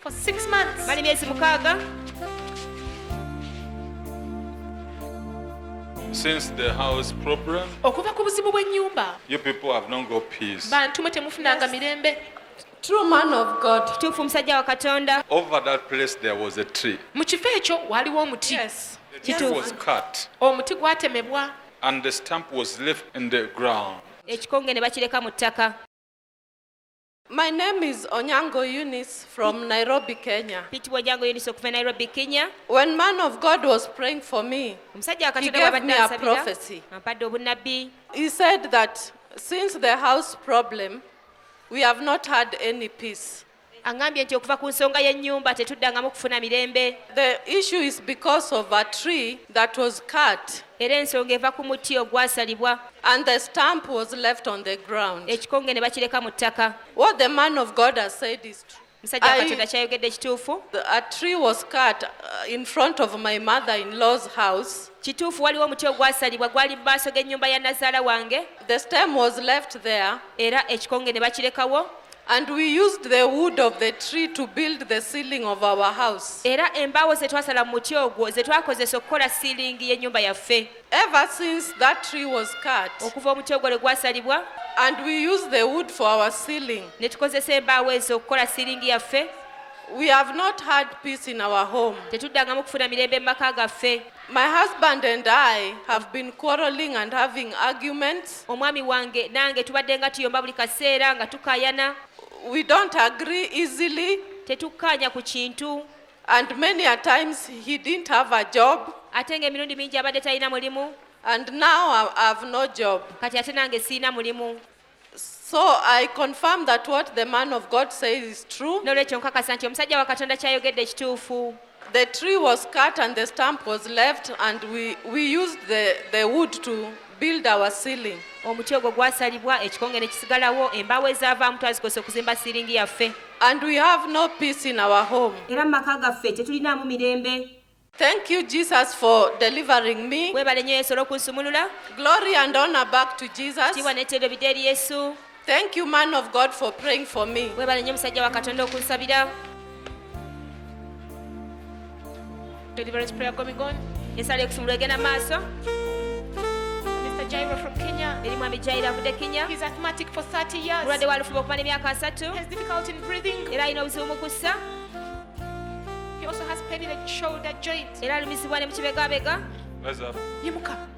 for six months mali myezi mukaaga Since the house problem, okuva ku buzibu bw'ennyumba you people have not got peace. bantu mwe temufunanga mirembe True man of God. kituufu omusajja wa katonda Over that place, there was a tree. mu kifo ekyo waaliwo omuti Yes. The tree Kituufu. was cut, omuti gwatemebwa and the stump was left in the ground. ekikonge ne bakireka mu ttaka My name is Onyango Eunice from Nairobi, Kenya. pitibwa ojango yunisi okuva e nairobi kenya When man of God was praying for me, omusajja wakatonda gave bwabadde me a ansabira prophecy. ampadde obunnabbi he said that since the house problem, we have not had any peace. aŋŋambye nti okuva ku nsonga y'ennyumba tetuddangamu kufuna mirembe The issue is because of a tree that was cut. era ensonga eva ku muti ogwasalibwa And the stamp was left on the ground. ekikonge ne bakireka mu ttaka What the man of God has said is true. musajja wa I- katonda kyayogedde kituufu The- A tree was cut uh, in front of my mother in law's house. kituufu waliwo omuti ogwasalibwa gwali mu maaso g'ennyumba ya nazaala wange The stem was left there, era ekikonge ne bakirekawo and we used the wood of the tree to build the ceiling of our house. era embaawo ze twasala mu muti ogwo ze twakozesa okukola siiringi y'ennyumba yaffe Ever since that tree was cut okuva omuti ogwo lwe gwasalibwa and we use the wood for our ceiling, ne tukozesa embaawo ezo okukola siiringi yaffe we have not had peace in our home. tetuddangamu kufuna mirembe mu maka gaffe My husband and I have been quarreling and having arguments. omwami wange nange tubadde nga tuyomba buli kaseera nga tukayana We don't agree easily. tetukkaanya ku kintu And many a times he didn't have a job, ate ng'emirundi mingi abadde talina mulimu and now I I have no job. kati ate nange sirina mulimu So I confirm that what the man of God says is true. n'olwekyo nkakasa nti omusajja wa katonda kyayogedde ekituufu The tree was cut and the stump was left, and we, we used the, the wood to build our ceiling. Omuti ogwo gwasalibwa, ekikonge ne kisigalawo, embaawo ezaavaamu twazikozesa okuzimba siiringi yaffe. And we have no peace in our home. Era mu maka gaffe tetulinaamu mirembe. Thank you Jesus for delivering me. Weebale nnyo Yesu olw'okunsumulula. Glory and honor back to Jesus. Ekitiibwa n'ettendo bidde eri Yesu. Thank you man of God for praying for me. Webale nnyo musajja wa Katonda okunsabira. Deliverance prayer going on. Esala yokusumulwa egenda maaso. Mr. Jairo from Kenya. Eri mwami Jairo avudde Kenya. He's asthmatic for 30 years. Mulwadde wa lufuba okumala emyaka asatu. He has difficulty in breathing. Era alina obuzibu mu kussa. He also has pain in the shoulder joint. Era alumizibwa ne mu kibegabega. Yimuka.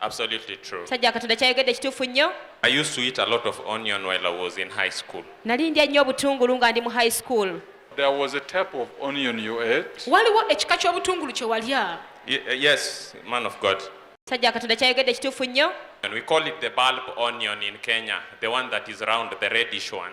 Absolutely true. Sajja Katonda kyayogedde kituufu nnyo. I used to eat a lot of onion while I was in high school. Nali ndya nnyo obutungulu nga ndi mu high school. There was a type of onion you ate. Waliwo ekika ky'obutungulu kye walya. Ye- uh, yes, man of God. Sajja Katonda kyayogedde kituufu nnyo. And we call it the bulb onion in Kenya, the one that is round, the reddish one.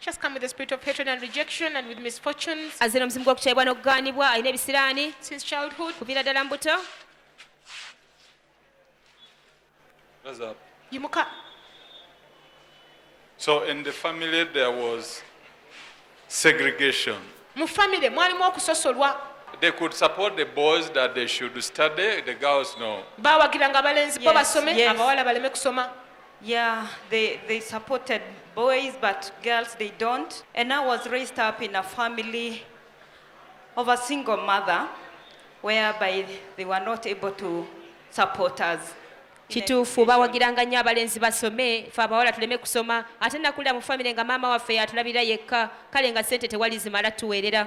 She's come with the spirit of hatred and rejection and with misfortunes. azze n'omuzimu gw'okukyayibwa n'okugaanibwa alina ebisiraani Since childhood, kuviira ddala mu buto Rise up. yimuka. So in the family there was segregation. Mu family mwalimu okusosolwa. They could support the boys that they should study, the girls no. Baawagiranga abalenzi bo Yes, basome, yes. abawala baleme kusoma. Yeah, they, they supported boys, but girls they don't. And I was raised up in a family of a single mother, whereby they were not able to support us. kituufu bawagiranga nnyo abalenzi basome fe abawala tuleme kusoma ate nakulira mu famire nga maama waffe yatulabirira yekka kale nga sente tewali zimala tuweerera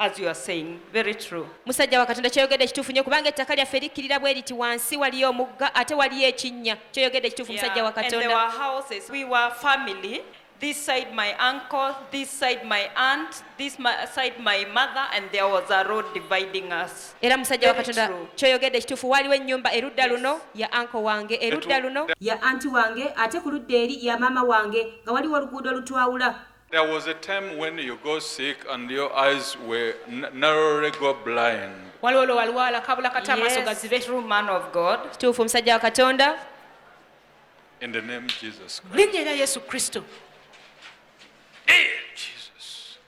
As you are saying, very true. Musajja wa Katonda kyoyogedde kituufu nnyo kubanga ettaka lyaffe likkirira bwe liti wansi waliyo omugga ate waliyo ekinnya kyoyogedde kituufu musajja wa Katonda. Yeah, and there were houses. We were family. this side my uncle, this side my aunt, this my, side my mother, and there was a road dividing us. Era musajja wa Katonda kyoyogedde kituufu waliwo ennyumba erudda luno ya uncle wange erudda luno ya anti wange ate ku ludda eri ya maama wange nga waliwo oluguudo olutwawula There was a time when you go sick and your eyes were narrowly go blind. Waliwo lwe walwala kabula kata amaaso gazibe. True man of God. Kituufu musajja wa Katonda. In the name of Jesus Christ. Linnya erya Yesu Kristo. Hey, Jesus.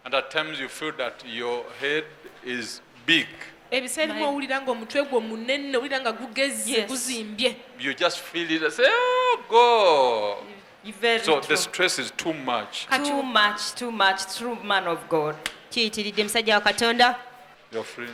And at times you feel that your head is big. ebiseera ebimu owulira nga omutwe gwo munene owulira nga gugezze Yes. guzimbye You just feel it and say, oh, go. You very So the true. stress is too much. Kati Too much, too much, true man of God. kiyitiridde musajja wa katonda Your friend.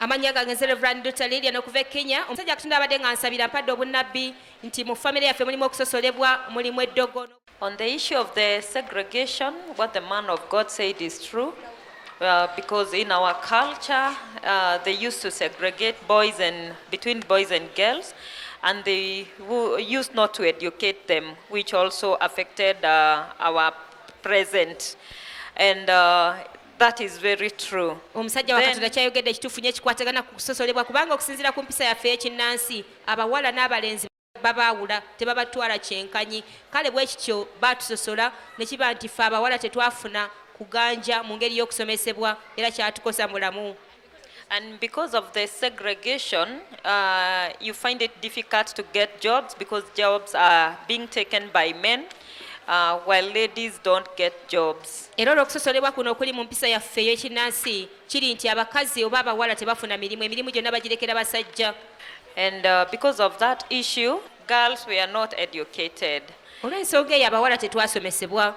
amannya gange nze reverand dr lilian okuva e kenya omusajja katonda abadde nga nsabira mpadde obunnabbi nti mu famire yaffe mulimu okusosolebwa mulimu eddogo on the issue of the segregation what the man of god said is true Uh, because in our culture uh, they used to segregate boys and between boys and girls and they used not to educate them which also affected uh, our present and uh, That is very true. Omusajja wa Katonda kyayogedde kituufu nyo ekikwatagana ku kusosolebwa kubanga okusinziira ku mpisa yaffe ey'ekinnansi abawala n'abalenzi babaawula tebabatwala kyenkanyi kale bwe kityo baatusosola ne kiba nti ffe abawala tetwafuna kuganja mu ngeri y'okusomesebwa era kyatukosa mulamu. And because of the segregation, uh, you find it difficult to get jobs because jobs are being taken by men. Uh, while ladies don't get jobs. era olw'okusosolebwa kuno okuli mu mpisa yaffe ey'ekinnansi kiri nti abakazi oba abawala tebafuna mirimu emirimu gyonna bagirekera basajja And uh, because of that issue, girls were not educated. olw'ensonga eyo abawala tetwasomesebwa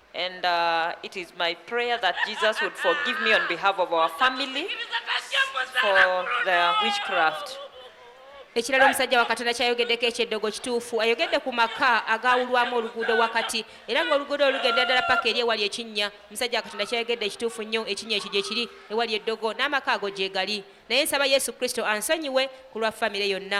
And uh, it is my prayer that Jesus would forgive me on behalf of our family for the witchcraft. ekirala omusajja wa katonda kyayogeddeko ekyeddogo kituufu ayogedde ku maka agaawulwamu oluguudo wakati era ng'oluguudo olugenda ddala paka eri ewali ekinnya omusajja wa katonda kyayogedde ekituufu nnyo ekinnya ekyo gye kiri ewali eddogo n'amaka ago gye gali naye nsaba yesu kristo ansonyiwe ku lwa famire yonna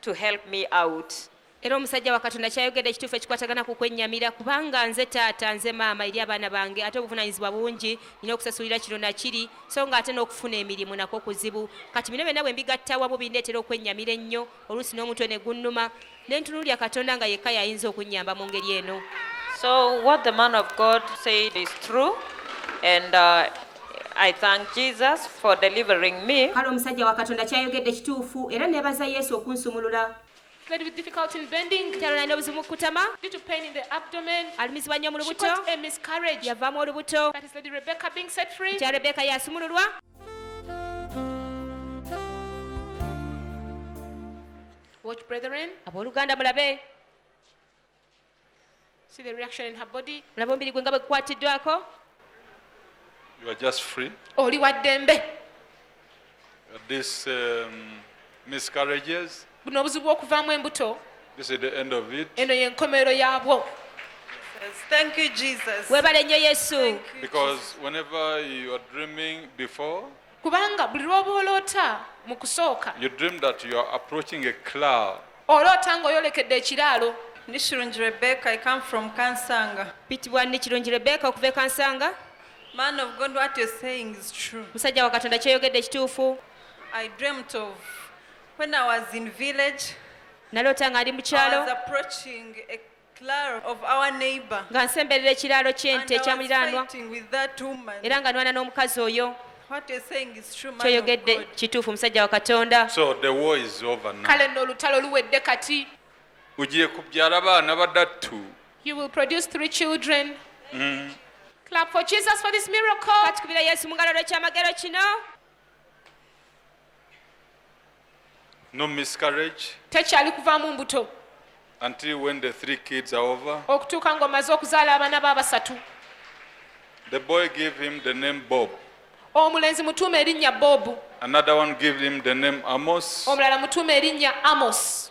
to help me out era omusajja wa katonda kyayogedde ekituufu ekikwatagana ku kwennyamira kubanga nze taata nze maama eri abaana bange ate obuvunaanyizibwa bungi nina okusasulira kino nakiri so nga ate n'okufuna emirimu nakwo kuzibu kati bino byonna bwe mbigatta wamu bindeetera okwennyamira ennyo oluusi n'omutwe ne gunnuma ne ntunuulira katonda nga yekka yayinza okunnyamba mu ngeri eno so what the man of god said is true and uh, I thank Jesus for delivering me. Kale omusajja wa Katonda kyayogedde kituufu era nebaza Yesu okunsumulula. Lady with difficulty in bending. Kyalo nalina obuzibu mukutama. Due to pain in the abdomen. Alumizibwa nnyo mu lubuto. She got a miscarriage. Yavaamu olubuto. That is Lady Rebecca being set free. Kya Rebecca yasumululwa. Watch brethren. Abooluganda mulabe. See the reaction in her body. Olaba omubiri gwe nga bwe gukwatiddwako. You are just free. Oli wa ddembe. This um, miscarriages. Buno obuzibu okuvaamu embuto. This is the end of it. Eno ye nkomerero yaabwo. Thank you, Jesus. Webale nnyo Yesu. Because whenever you are dreaming before kubanga buli lw'oba oloota mu kusooka You dream that you are approaching a cloud. oloota ng'oyolekedde ekiraalo Ndi Shirungi Rebecca. I come from Kansanga. pitibwa ndi kirungi rebeka okuva e kansanga Man of God, what you're saying is true. musajja wa katonda kyoyogedde ekituufu I dreamt of when I was in village. naloota nga ndi mu I was kyalo approaching a nga nsemberera ekiraalo ky'ente ekya muliraanwa era nga nwana n'omukazi oyo kyoyogedde kituufu musajja wa katonda kale nno olutalo luwedde kati ugiye kubyara abana badatu you will produce three children mm. clap for jesus for this miracle katukubira yesu mungalo lwekyamagero kino no miscarriage tekyali kuvaamu mbuto until when the three kids are over okutuuka ng'omaze okuzaala abaana be abasatu the boy give him the name bob omulenzi mutuuma erinnya bobu another one give him the name amos omulala mutuuma erinnya amos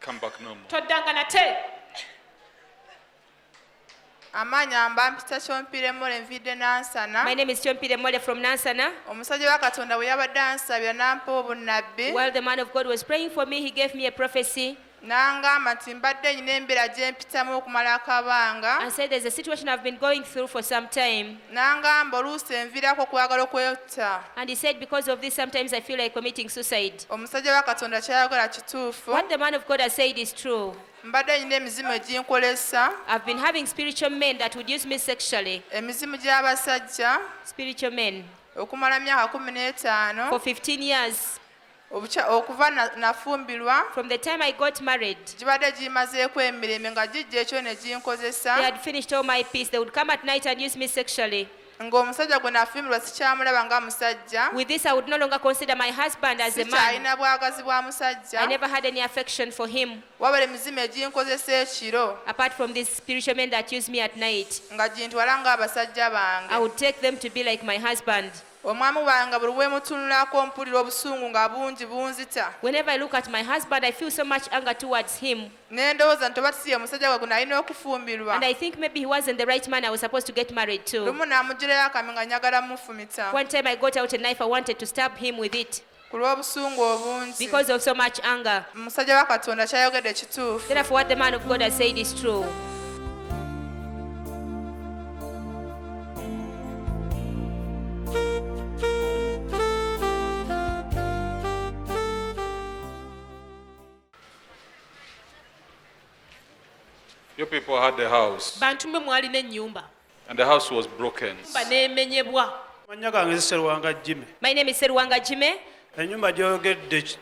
Come back no more. toddanga nate amaanyi amba mpita kyompiremole nviidde nansana My name is Chompire Mole from Nansana. omusajja wa katonda bwe yabadde ansabira n'ampa obunnabbi While the man of God was praying for me, he gave me a prophecy n'angamba nti mbadde nyina embeera gye mpitamu okumala akabanga and said there's a situation I've been going through for some time. n'angamba oluusi enviirako okwagala okwe- Sir. And he said, Because of this, sometimes I feel like committing suicide. omusajja wa katonda kyayagala kituufu What the man of God has said is true. mbadde nnyina emizimu eginkolesa I've been having spiritual men that would use me sexually. emizimu gy'abasajja Spiritual men. okumala myaka kumi n'etaano For 15 years. obukya okuva na- nafumbirwa From the time I got married, gibadde gimazeeko emirembe nga gijja ekyo ne they ginkozesa had finished all my peace. They would come at night and use me sexually. ng'omusajja gwe nafumbirwa sikyamulaba nga musajja With this, I would no longer consider my husband as a man. sikyalina bwagazi bwa I musajja never had any affection for him, wabula emizimu eginkozesa ekiro apart from these spiritual men that use me at night. nga gintwala ng'abasajja I bange would take them to be like my husband. Omwamu wange buli bwemutunulako mpulira obusungu nga bungi bunzita. Whenever I look at my husband I feel so much anger towards him. Nendowoza nti oba siye musajja gwe gunalina okufumbirwa. And I think maybe he wasn't the right man I was supposed to get married to. Lumu namujirayo akamyu nga njagala mufumita. One time I got out a knife I wanted to stab him with it. ku lw'obusungu obungi because of so much anger. omusajja wa katonda kyayogedde kituufu Therefore, what the man of God has said is true. You people had a house. Bantu mwe mwalina ennyumba. And the house was broken. Nyumba nemenyebwa. Manya gange Seruwanga Jimmy. My name is Seruwanga Jimmy. Enyumba gyogedde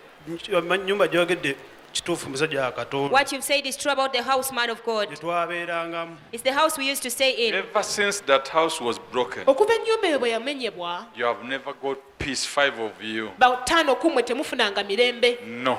nyumba gyogedde kituufu musajja wa Katonda. What you've said is true about the house man of God. Gyetwabeerangamu. It's the house we used to stay in. Ever since that house was broken. Okuva ennyumba eyo bwe yamenyebwa. You have never got peace five of you. Bawtaano ku mwe temufunanga mirembe. No.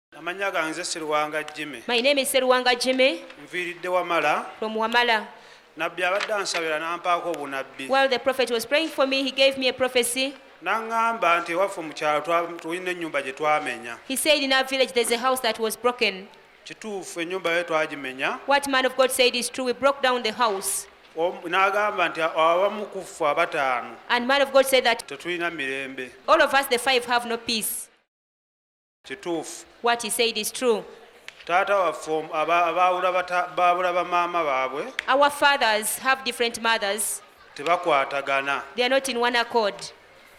Amanya ganze Siruwanga Jimmy. My name is Siruwanga Jimmy. Mviridde Wamala. From Wamala. Nabbi abadde ansabira n'ampaako obunabbi. While the prophet was praying for me, he gave me a prophecy. Nangamba nti ewaffe mu kyalo tulina ennyumba gye twamenya. He said in our village there's a house that was broken. Kituufu ennyumba ye twagimenya. What man of God said is true. We broke down the house. n'agamba nti abamu ku ffe abataano tetulina mirembe all of us the five have no peace kituufu What he said is true. taata waffe om- aba- abaawula bata- baabula bamaama baabwe Our fathers have different mothers, tebakwatagana they are not in one accord.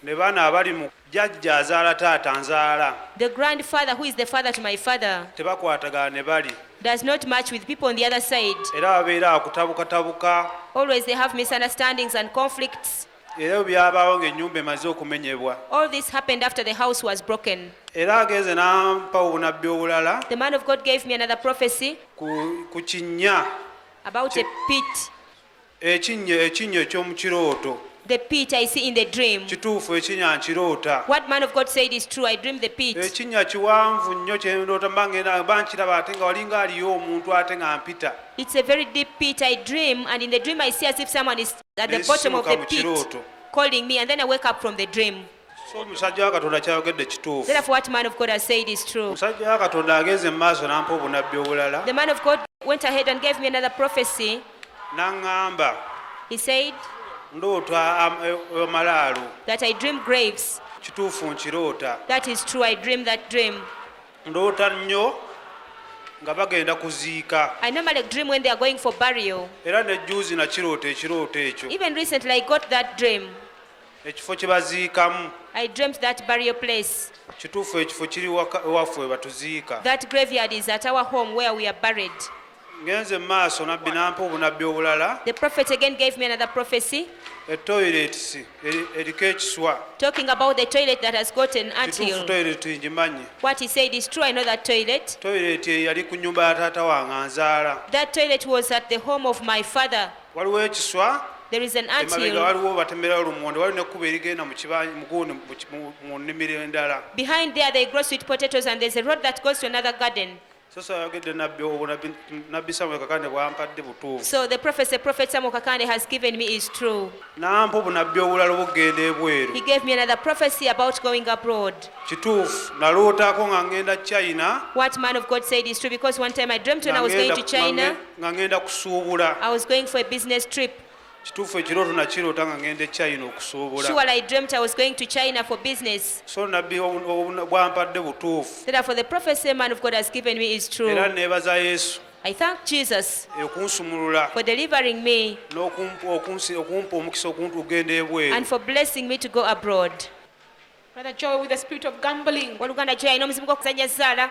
ne baana abali mu jajja azaala taata nzaala The grandfather, who is the father to my father, tebakwatagana ne bali does not match with people on the other side. era babeera akutabukatabuka Always they have misunderstandings and conflicts. era byabaawo ng'ennyumba emaze okumenyebwa All this happened after the house was broken. era agenze n'ampa obunabbi obulala The man of God gave me another prophecy ku, ku kinnya about a pit. ekinnya ekinnya eky'omu kirooto The pit I see in the dream. kituufu ekinnya nkiroota What man of God said is true. I dreamed the pit. ekinnya kiwanvu nnyo kyendoota mba ngenda mba nkiraba ate nga walinga aliyo omuntu ate nga mpita It's a very deep pit I dream, and in the dream I see as if someone is at the bottom of the pit calling me and then I wake up from the dream. So musajja wa Katonda kyayogedde kituufu. Therefore what man of God has said is true. Musajja wa Katonda agenze mu maaso n'ampa obunabbi obulala. The man of God went ahead and gave me another prophecy. N'aŋŋamba. He said. Ndoota amalaalo. Eh, eh, that I dream graves. Kituufu nkiroota. That is true I dream that dream. ndoota nnyo nga bagenda kuziika I normally dream when they are going for burial. era ne juuzi nakiroota ekirooto ekyo Even recently, I got that dream. ekifo kye baziikamu I dreamt that burial place, kituufu ekifo kiri waka- ewaffe we batuziika that graveyard is at our home where we are buried. ngenze maaso nabbi nampa obunabbi obulala the prophet again gave me another prophecy etoilets eriko ekiswa talking about the toilet that has got an anteal toilet ngimanyi what he said is true i know that toilet toilet yali ku nyumba ya taata wange anzaala that toilet was at the home of my father waliwo ekiswa there is an anteal waliwo batemerawo lumonde waliwo nekkuba erigenda muguuni mu nnimiro endala behind there they grow sweet potatoes and there's a road that goes to another garden sasa ayogedde nabbi obwo nabbi samuel kakande bwampadde butuufu so the prophecy prophet samuel kakande has given me is true nampa obunabbi obulala obugenda ebweru he gave me another prophecy about going abroad kituufu nalootako nga ngenda china what man of god said is true because one time i dreamt when i was going to china nga ngenda kusuubula i was going for a business trip kituufu ekirooto nakiroota nga ngenda echina okusuubula Surely I dreamt I was going to China for business. so nabbi obu- obu- bwampadde butuufu Therefore, the prophecy man of God has given me is true. era neebaza yesu I thank Jesus okunsumulula for delivering me n'okumpa okunsi- okumpa omukisa okuntu okugenda and ebweru for blessing me to go abroad. Brother Joe with the spirit of gambling. Oluganda kyo yalina omuzimu gw'okuzannya zzaala.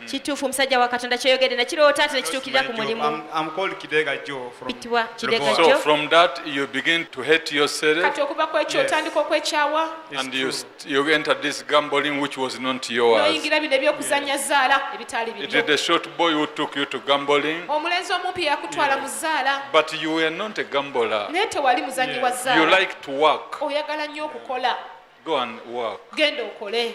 Mm. Kituufu musajja wa Katonda kyoyogedde na kiroota ate ne kituukirira ku mulimu. Bitibwa Kidega Joe. So from that you begin to hate yourself. Kati okuva ku ekyo otandika okwekyawa. And you, you enter this gambling which was not yours. N'oyingira bino eby'okuzannya zzaala ebitaali bibyo. It is the short boy who took you to gambling. Omulenzi omumpi yakutwala mu zzaala. But you were not a gambler. Naye tewali muzannyi wa zzaala. You like to work. Oyagala nnyo okukola. Go and work. Genda okole.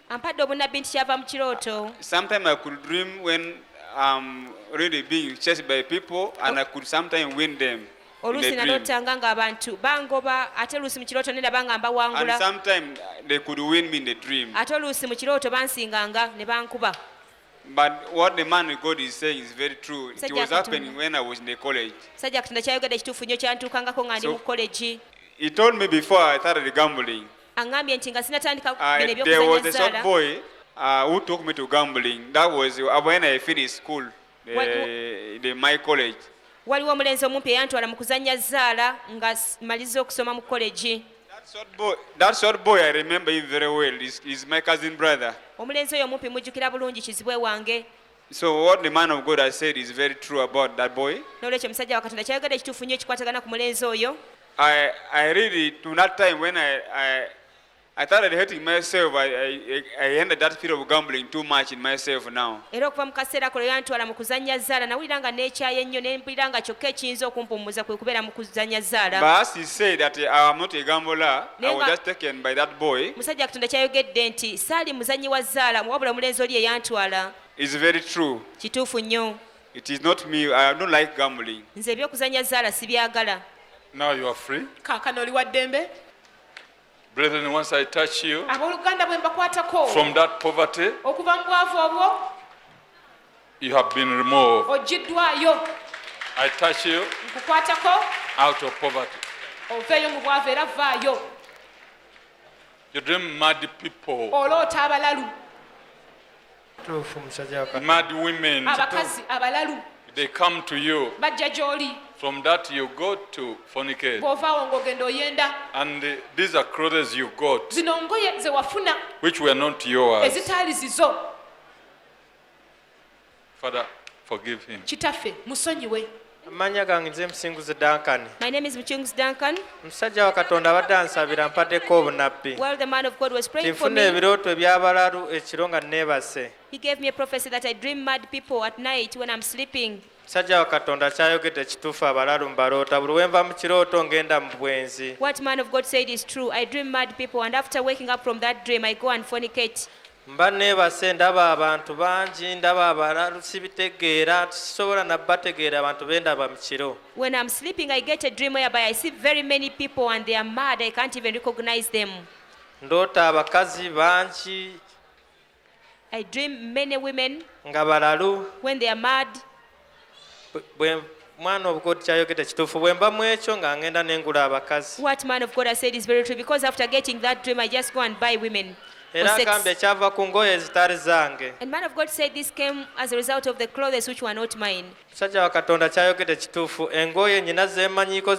ampadde obunabbi nti kyava mu kirooto Sometimes I could dream when I'm really being chased by people and I could sometimes win them. in a oluusi dream. nalootanga ng'abantu bangoba ate oluusi mu kirooto ne ndaba nga And mbawangula sometimes they could win me in the dream. ate oluusi mu kirooto bansinganga ne bankuba But what the man of God is saying is very true. It Sajja was Katonda. happening when I was in the college. sajja katonda kyayogedde kituufu nnyo kyantuukangako nga ndi So- mu kolegi He told me before I started gambling, angambye nti nga sinatandika ah, bino ebyokuzanyazaala uh, who took me to gambling. That was uh, when I finished school, the, what, the, my college. waliwo omulenzi omumpi eyantwala mu kuzannya zzaala nga maliza okusoma mu kolegi omulenzi oyo omumpi mujjukira bulungi kizibwe wange So what the man of God has said is very true about that boy. N'olwekyo omusajja wa Katonda kyayogedde kituufu nnyo ekikwatagana ku mulenzi oyo. I, I really, to that time when I, I, I started hating myself, I, I, I ended that fear of gambling too much in myself now. Era okuva mu kaseera kolo yantwala mu kuzannya zzaala nawulira nga neekyaye ennyo ne mpulira nga kyokka ekiyinza okumpummuza kwe kubeera mu kuzannya zzaala. But as he said that I am not a gambler, musajja katonda kyayogedde nti saali muzanyi wa zaala wabula omulenzi oli eyantwala kituufu nnyo nze ebyokuzanya zaala sibyagala kakano oli wa ddembe Brethren, once I touch you from that poverty, You have been removed. Ojiddwayo. I touch you. Nkukwatako. Out of poverty. Oveeyo mu bwavu era vaayo. You dream mad people. Oloota abalalu. Tuufu musajja wa Katonda. Mad women. Abakazi abalalu. They come to you. Bajja gy'oli. From that you go to fornicate. Bw'ovaawo ng'ogenda oyenda. And uh, these are clothes you got. Zino ngoye ze wafuna. Which were not yours. Ezitaali zizo. Father, forgive him. kitaffe musonyiwe amannya gange nze musinguzi duncan My name is Muchungus Duncan. omusajja wa katonda abadde ansabira mpaddeko obunabbi While the man of God was praying for tinfuna me, ebirooto ebyabalalu ekiro nga neebase he gave me a prophecy that I dream mad people at night when I'm sleeping. omusajja wa katonda kyayogedde kituufu abalalu mbaloota buli wenva mu kirooto ngenda mu bwenzi What man of God said is true. I dream mad people, and after waking up from that dream, I go and fornicate. mba neebase ndaba abantu bangi ndaba abalalu sibitegeera sisobola nabategeera abantu bendaba mu kiro when i'm sleeping i get a dream whereby i see very many people and they are mad i can't even recognize them ndoota abakazi bangi i dream many women nga balalu when they are mad mwana of god kyayogedde kituufu bwe mba mu ekyo nga ngenda ne ngula abakazi what man of god has said is very true because after getting that dream i just go and buy women era agambye kyava ku ngoye ezitali zange and man of god said this came as a result of the clothes which were not mine musajja wa katonda kyayogedde kituufu engoye nyina zemanyiko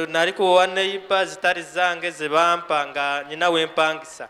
nali kuwowa neyiba zitali zange zebampa nga nyina wempangisa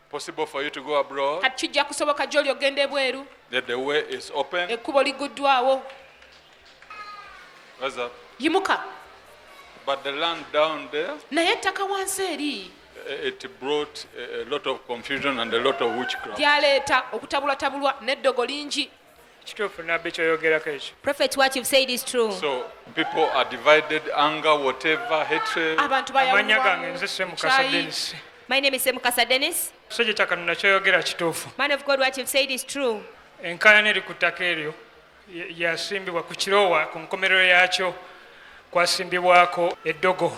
possible for you to go abroad. kati kijja kusoboka gy'oli ogenda ebweru That the way is open. ekkubo liguddwawo Rise up. yimuka But the land down there, naye ettaka wansi eri eh, it brought a a lot of confusion and a lot of witchcraft. lyaleeta okutabulatabulwa n'eddogo lingi Kituufu nabbi kyoyogerako ekyo. Prophet what you've said is true. So people are divided anger whatever hatred. Abantu bayawulwa. Amanya gange nze Semukasa Dennis. My name is Semukasa Dennis. Sije takanuna kyoyogera kituufu. Man of God what you've said is true. Enkaayana eri ku ttaka eryo yasimbibwa ku kiroowa ku nkomerero yaakyo kwasimbibwako eddogo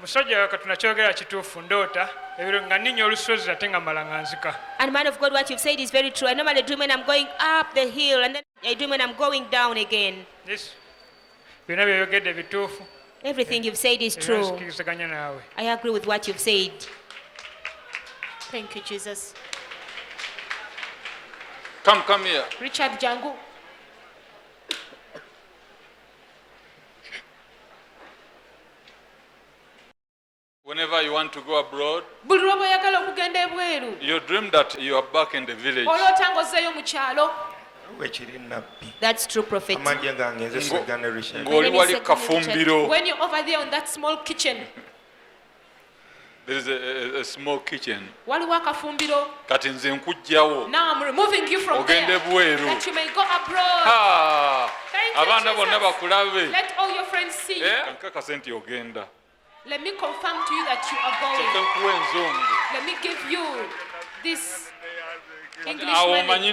musajja wa katonda kyogera kituufu ndoota ebiro nga ninya olusozi ate nga mala nga nzika And man of God, what you've said is very true. I normally dream when I'm going up the hill, and then I dream when I'm going down again. This- byonna byoyogedde bituufu Everything you've said is era true. nzikiriziganya naawe I agree with what you've said. Thank you, Jesus. Come, come here. Richard Jangu. Whenever you want to go abroad, buli lwoba oyagala okugenda ebweru you dream that you are back in the village. oloota ng'ozzeeyo mu kyalo wekiri nabbi That's true, Prophet. amagye gange nze Ngo- seganerisha ng'oli wali kafumbiro When you're over there on that small kitchen, waliwo akafumbiro kati nze nkugjawo ogende bweru abaana bonna bakulabe eh? nkakase nti ogenda Let me confirm to you that you are going. Let me give you this English money.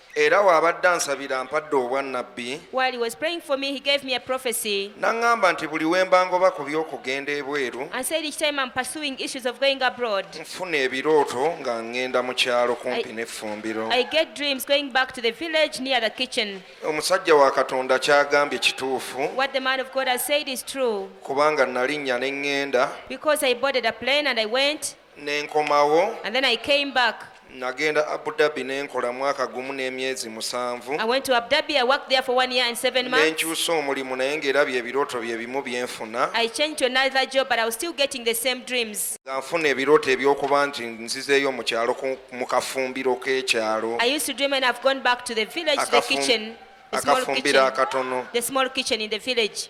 Era w'abadde ansabira ampadde obwannabbi. While he was praying for me, he gave me a prophecy. N'aŋŋamba nti buli we mba ngoba ku by'okugenda ebweru. And said each time I'm pursuing issues of going abroad. Nfuna ebirooto nga ŋŋenda mu kyalo kumpi n'effumbiro. I get dreams going back to the village near the kitchen. Omusajja wa Katonda ky'agambye kituufu. What the man of God has said is true. Kubanga nalinnya ne ŋŋenda. Because I boarded a plane and I went. nenkomawo and then I came back. nagenda abu dhabi nenkola mwaka gumu n'emyezi musanvu I went to Abu Dhabi. I worked there for one year and seven months. nenkyusa omulimu naye ngaera bye birooto bye bimu byenfuna I changed to another job, but I was still getting the same dreams. nga nfuna ebirooto ebyokuba nti nzizeeyo mu kyalo ku- mu kafumbiro k'ekyalo I used to dream when I've gone back to the village, the Akafum- kitchen, the small akafumbiro kitchen, akatono the small kitchen in the village.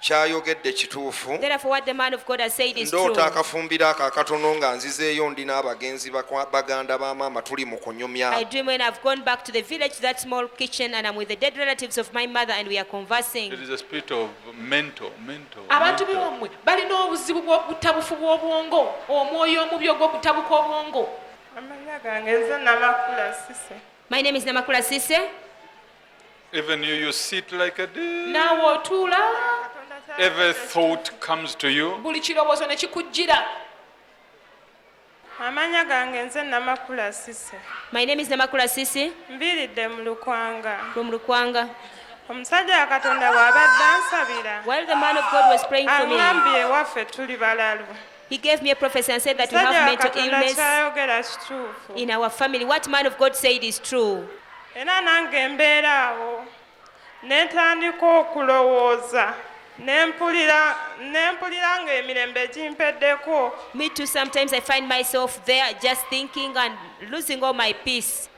kyayogedde kituufu ndoota akafumbiro ako akatono nga nzizeeyo ndi n'abagenzi baganda ba maama tuli mu kunyumya abantu bewammwe balina obuzibu bw'okutabufu bw'obwongo omwoyo omubi ogw'okutabuka obwongo My name is Namakula Sise. Even you, you sit like a deer. naawe otuula Every thought comes to you. buli kirowoozo ne kikujjira amanya gange nze namakula sise my name is namakula sisi mbiridde mu lukwanga from lukwanga omusajja wa katonda bw'abadde ansabira while the man of god was praying for me aŋambye ewaffe tuli balalu He gave me a prophecy and said that we have Musajja wa mental Katonda illness ky'ayogera kituufu. in our family. What man of God said is true. era nange mbeera awo ne ntandika okulowooza ne mpulira ne mpulira ng'emirembe gimpeddeko Me too, sometimes I find myself there just thinking and losing all my peace.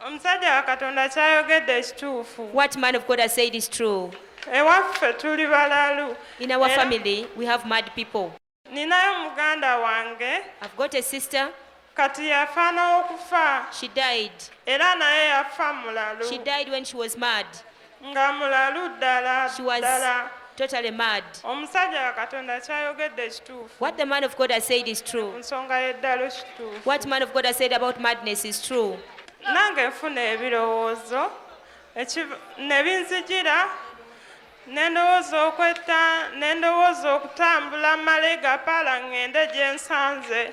omusajja wa katonda kyayogedde kituufu What man of God has said is true. ewaffe tuli balalu In our Era- family, we have mad people. ninayo muganda wange I've got a sister, kati yafa n'okufa she died. era naye yafa mulalu She died when she was mad. nga mulalu ddala She was ddala totally mad. omusajja wa katonda kyayogedde kituufu What the man of God has said is ku true. nsonga y'eddalu kituufu What man of God has said about madness is true. nange nfuna ebirowoozo ekiv- ne binzijira ne ndowooza okwetta ne ndowooza okutambula malega paala ŋŋende gye nsanze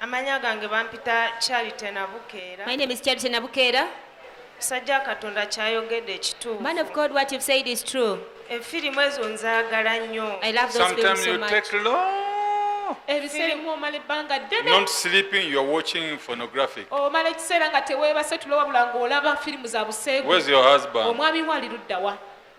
Amanya gange bampita Charity Nabukeera. My name is Charity Nabukeera. Musajja Katonda kyayogedde ekituufu. Man of God, what you've said is true. Efirimu eh, ezo nzaagala nnyo. I love those films Sometimes so you much. take long ebisirimu omala ebbanga ddene not sleeping you are watching phonographic omala ekiseera nga teweebase tulo wabula ng'olaba firimu za buseegu where's your husband omwami wo ali luddawa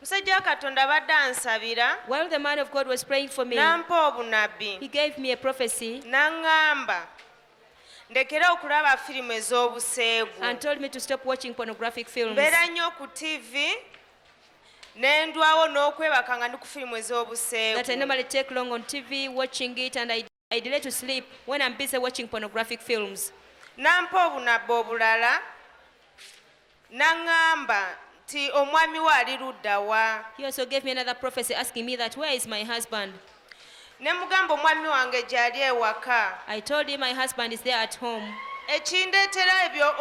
musajja wa katonda abadde ansabira While the man of God was praying for me, n'ampa obunabbi he gave me a prophecy n'aŋŋamba ndekere okulaba firimu ez'obuseegu and told me to stop watching pornographic films. mbeera nnyo ku tivi ne ndwawo n'okwebaka nga ndi ku firimu That I ez'obuseegu normally take long on TV watching it and I I delay to sleep when I'm busy watching pornographic films. Nampa obunabba obulala n'aŋŋamba nti omwami we ali ludda wa. He also gave me another prophecy asking me that where is my husband? Ne mugamba omwami wange gy'ali ewaka. I told him my husband is there at home. ekindeetera ebyo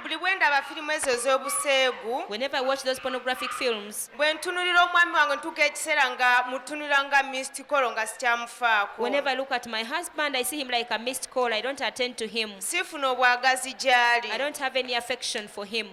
buli bwe ndaba firimu ezo ez'obuseegu whenever I watch those pornographic films Bwe ntunulira omwami wange ntuuka ekiseera nga mutunulira nga missed call nga sikyamufaako. Whenever I look at my husband, I see him like a missed call. I don't attend to him. Sifuna obwagazi gy'ali. I don't have any affection for him.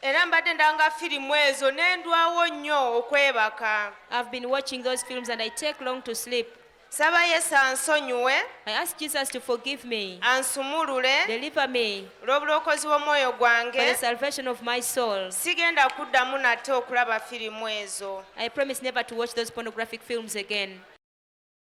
era mbadde ndanga firimu ezo ne ndwawo nnyo okwebaka. I've been watching those films and I take long to sleep. Saba Yesu ansonyiwe. I ask Jesus to forgive me. Ansumulule. Deliver me. Olw'obulokozi bw'omwoyo gwange. For the salvation of my soul. Sigenda kuddamu nate okulaba firimu ezo. I promise never to watch those pornographic films again.